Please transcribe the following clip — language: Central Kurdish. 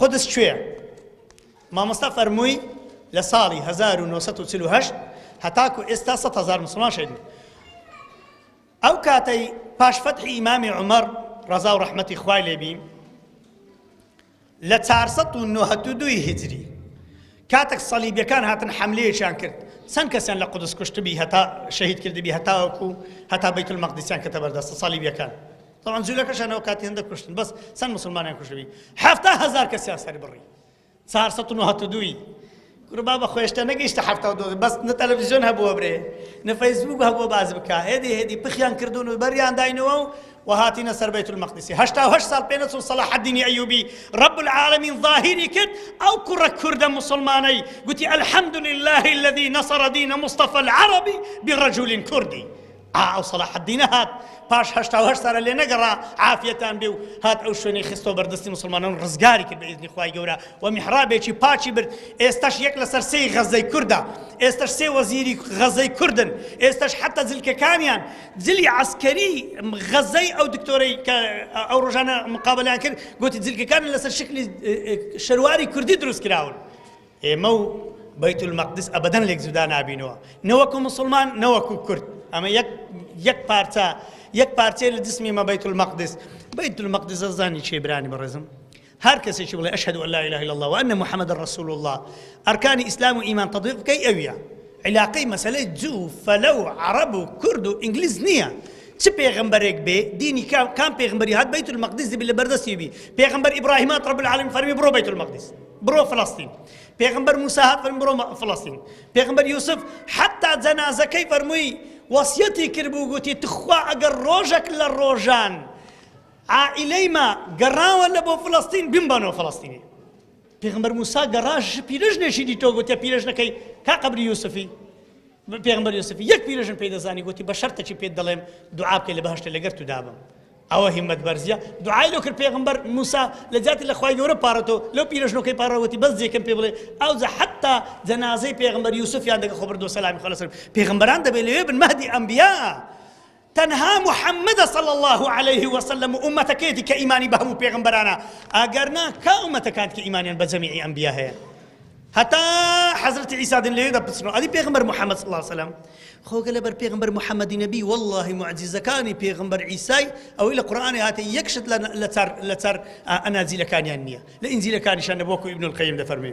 قودس کوێیە؟ مامۆستا فەرمووی لە ساڵی هەزار و نۆ سەد و چل و هەشت هەتاکو ئێستا سەد هەزار موسڵمان شەهید بوون. ئەو کاتەی پاش فەتحی ئیمامی عومەر ڕەزا و ڕەحمەتی خوای لێبی لە 492 هجری کاتێک سەلیبیەکان هاتن حملەیەکیان کرد چەند کەسیان لە قودس کوشتبی هەتا شەهید کردبی هەتاوەکو هەتا بەیت المەقدسیان کەتە بەردەستە سەلیبیەکان تەبعەن جولەکەشیان ئەو کاتی هەندە کوشتن بەس چەند مسلمانیان کوشتبی حەفتا هەزار کەسیان سەر بڕی چار سەد و نۆهەت و دووی کورە بابە خۆشتە نەگەیشتە حەفتا و دۆ بەس نە تەلەڤیزیۆن هەبووە برێ نە فەیسبووک هەبووە باز بکە هێدی هێدی پخیان کردوون و بەریان داینەوە و وهاتینە سەر بەیت المەقدسی هەشتا و هەشت ساڵ پێ نەچوو صلاح الدین ایوبی رب العالمین ظاهری کرد ئەو کوڕە کوردە مسلمانەی گوتی الحمد لله الذي نصر دين مصطفى العربي برجل كردي ئا ئەو سەڵاحەدینە هات پاش هەشتا و هەشت سارە لێ نەگەڕا عافیەتان بێ و هات ئەو شوێنەی خستۆ بەردەستی مسلمانان ڕزگاری کرد بە ئیزنی خوای گەورە و میحرابێکی پاکی برد ئێستاش یەک لەسەر سێی غەزەی کوردە ئێستاش سێ وەزیری غەزەی کوردن ئێستاش حتا زلکەکانیان جلی عسکەری غەزەی ئەو دکتۆرەی کە ئەو ڕۆژانە مقابلیان کرد گوتی جلکەکان لەسەر شکلی شەرواری کوردی دروست کراون ئێمە و بەیت المەقدس ئەبەدەن لێک جودا نابینەوە نەوەکو مسلمان نەوەکو کورد ئەمە یەک یەک پارچە یەک پارچەیە لە جسمی مە بەیت المەقدس بەیت المەقدس زانی چی برانی بەڕێزم هەر کەسێکی بڵێ ئەشهد ان لا اله الا الله وان محمد رسول الله ئەرکانی ئیسلام و ئیمان تطبیق بکەی ئەویە علاقەی مەسلەی جو فەلە و عرب و کورد و ئینگلیز نییە چ پێغمبەرێک بێ دینی کام پێغمبەری هات بەیت المەقدس بی لە بەردەستی بی پێغمبەر ئیبراهیمات رب العالمین فەرمی بڕۆ بەیت المەقدس بڕۆ فلستین پێغمبەر موسا هات فەرمی بڕۆ فلستین پێغمبەر یوسف حتا جەنازەکەی فەرمووی وەسیەتی کرد بوو گوتی تخوا ئەگەر ڕۆژێک لە ڕۆژان عائلەی ما گەڕاوە لە بۆ فلستین بمبەنەوە فلستینی پێغمبەر موسا گەڕاش پیرژنێکی دیتۆ گوتە پیرژنەکەی کا قبری یوسفی پێغمبەر یوسفی یەک پیرژن پێدەزانی گوتی بە شەرتەکی پێت دەڵێم دوعاکەی لە بەهشتە لەگەر تو دابم ئەوە هیمەت بەرزیە دوعای لۆ کرد پێغەمبەر موسا لە جاتی لە خوای گەورە پاڕێتەوە لەو پیرەژنۆکەی پاڕا وتی بەس جێکەم پێ بڵێ ئەوجا حەتا جەنازەی پێغەمبەر یوسفیان دەگە خۆ بردوە سەلامی خوا لەسەر پێغەمبەران دەبێ لەوێ بن مەهدی ئەنبیا تەنها محمد صلى الله عليه وسلم ئومەتەکەیەتی کە ئیمانی بە هەموو پێغمبەرانە ئەگەرنا کا ئومەتەکانت کە ئیمانیان بە جەمیعی ئەنبیا هەیە هەتا حەزرەتی عیسا دن لەوێدا پچڕا ئەدی پێغمبەر محەممەد صلی سەلام خۆگە لەبەر پێغمبەر محەممەدی نەبی واللهی معجززەکانی پێغمبەر عیسای ئەوەی لە قورآانی هاتە یەکشت لە چار ئەناجیلەکانیان نییە لە ئینجیلەکانیشان نەبووکو ابن القیم دەفەرمێ